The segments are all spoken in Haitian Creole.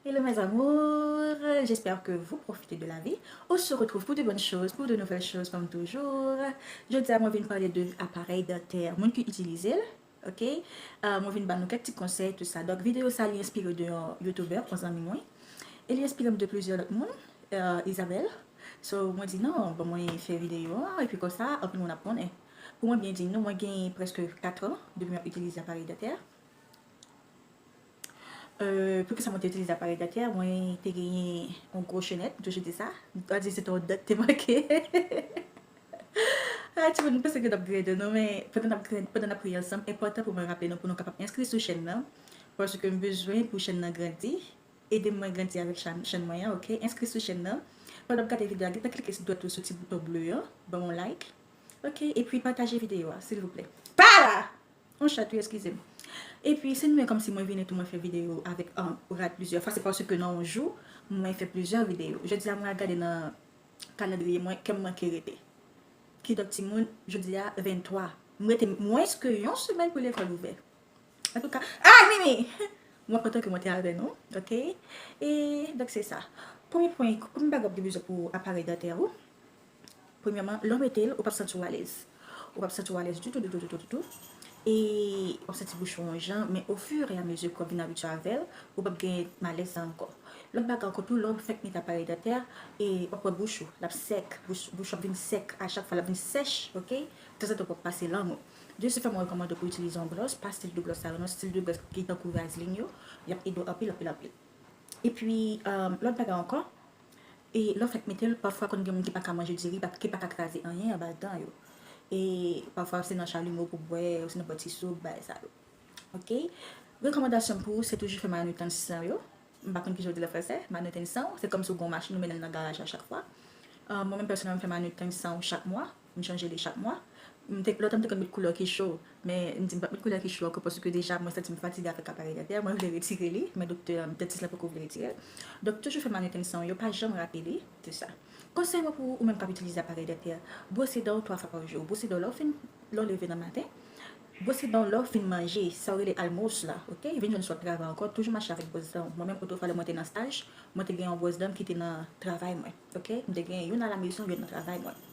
Hello mes amours, j'espère que vous profitez de la vie, on se retrouve pour de bonnes choses, pour de nouvelles choses comme toujours, jodia mwen vin pale de aparèy dantè, moun ki itilizel ok, mwen vin bannou kèk ti konsèy tout sa, donk video sa li enspire de yon youtubè, yon zanmi mwen, e li enspirem de plizyè lòt moun, Isabelle, so mwen di non bon mwen fè video a, epi konsa anpil moun ap konnen, pou mwen byen di nou mwen gen prèske 4 ans depi map itilize aparèy dantè. Poukisa mwen te itilize aparèy dantè? Mwen te genyen yon gwo chenèt, m toujou di sa. M pa di se te yon dan ki te manke. Hay timoun, m panse ke n ap grade nou men, pandan n ap grade, pandan n ap ri ansanm, enpòtan pou mwen raple nou pou nou kapab enskri sou chèn nan, paske m bezwen pou chèn nan grandi. Ede m mwen grandi avèk chèn mwen an ok. Enskri sou chèn nan. Pandan w ap gade videyo a, gentan klike ti dwèt ou sou ti bouton ble an, ban m yon like. Ok, epi pataje videyo a silvouplè. Pa la! On chat wi eskize m. Epi se mwen kòmsi mwen vini tou mwen fè videyo avèk rad plizyè fwa se paske nan on jou mwen fè plizyè videyo. Jodi a mwen al gade nan kalandriye mwen kèm manke rete. Kidonk timoun jodi a 23 m rete mwens ke yon semèn pou lekòl ouvè. Antouka ah Mimi! Mwen kontan ke mwen te avè nou ok. E donk se sa. Premye pwen, premye bagay wap gen bezwen pou aparèy dantè ou. Premyèman, lè w mete l, ou p ap santi w alèz. Ou p ap santi w alèz ditou, ditou, ditou, ditou. E w ap santi bouch ou yon jan. Men ofireamezi kò w vin abitye avè l, ou p ap gen malèz sa ankò. Lòt bagay ankò tou, lè w fèk mete aparèy dantè a, w ap wè bouch ou, l ap sèk. Bouch ou ap vin sèk a chak fwa, l ap vin sèch, ok. Tanzantan, w ap pase lang ou. Dieu sait fè mwen rekòmande pou w itilize yon bròs, pa stil de bròs sa yo non, stil de bròs ki tankou vazlin yo. L ap ede w anpil, anpil, anpil. Epi, lòt bagay ankò, E lè w fèk mete l, pafwa konn gen moun ki pa ka manje diri, ki pa ka kraze anyen anba dan yo. E pafwa se nan chalumeau pou bwè, osinon bwè ti soup, bagay sa yo. Ok. Rekòmandasyon m pou ou se toujou fè manutansyon w yo. M pa konn kijan yo di l an fransè, manutansyon w. Se kòmsi w gen yon machin ou mennen l nan garaj la chak fwa. Mwen menm pèsonèlman m fè manutansyon chak mwa. M chanje li chak mwa. Lontan m te konn met koulè ki cho, men m di m pap met koulè ki cho ankò paske deja mwen santi m fatige avèk aparèy dantè a, mwen vle retire li, men doktè an, dantis la poko vle retire l. Donk toujou fè manitensan w yo, pa janm rate li, se sa. Konsèy mwen pou ou, ou menm kap itilize aparèy dantè a, bwose dan w 3 fwa pa jou, bwose dan w lè w fin, lè w leve nan maten, bwose dan w lè w fin manje, sa yo rele almous la, ok, vin jwenn sou ap travay ankò, toujou mache avèk bwòs dan w, mwen menm otofwa lè mwen te nan staj, mwen te gen yon bwòs dan m kite nan travay mwen, ok, m te gen youn alamezon, youn nan travay mwen.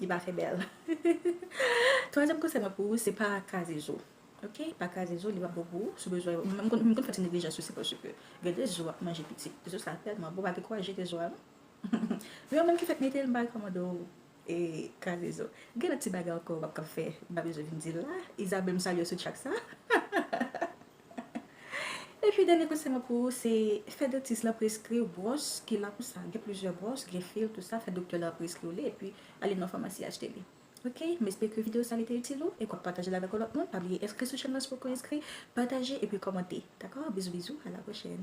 Li pa fè bèl. Twazyèm konsèy mwen pou ou se pa kraze zo. Ok pa kraze zo li pap bon pou ou sou bezwen yo. Mwen konn fè ti neglijans tou se paske gen de zo wap manje pitit zo sa tèlman bon pa gen kouraj jete zo a non. Men yo menm ki fèk metel mpa rekòmande w kraze zo. Gen lòt ti bagay ankò wap ka fè mpa bezwen vin dil la. Isabelle msalye w sou tchak sa. Epi dènye konsèy mwen pou ou se fè dantis lan preskriw bwòs ki la pou sa, gen plizyè bwòs, gen fil tout sa, fè doktè la preskriw li epi ale nan famasi achte li ok, m espere ke video sa li te itil ou e ke wap pataje l avèk yon lòt moun, pa bliye enskri sou chèn lan si poko enskri, pataje epi kòmante dakò, bizou bizou a la pwochèn.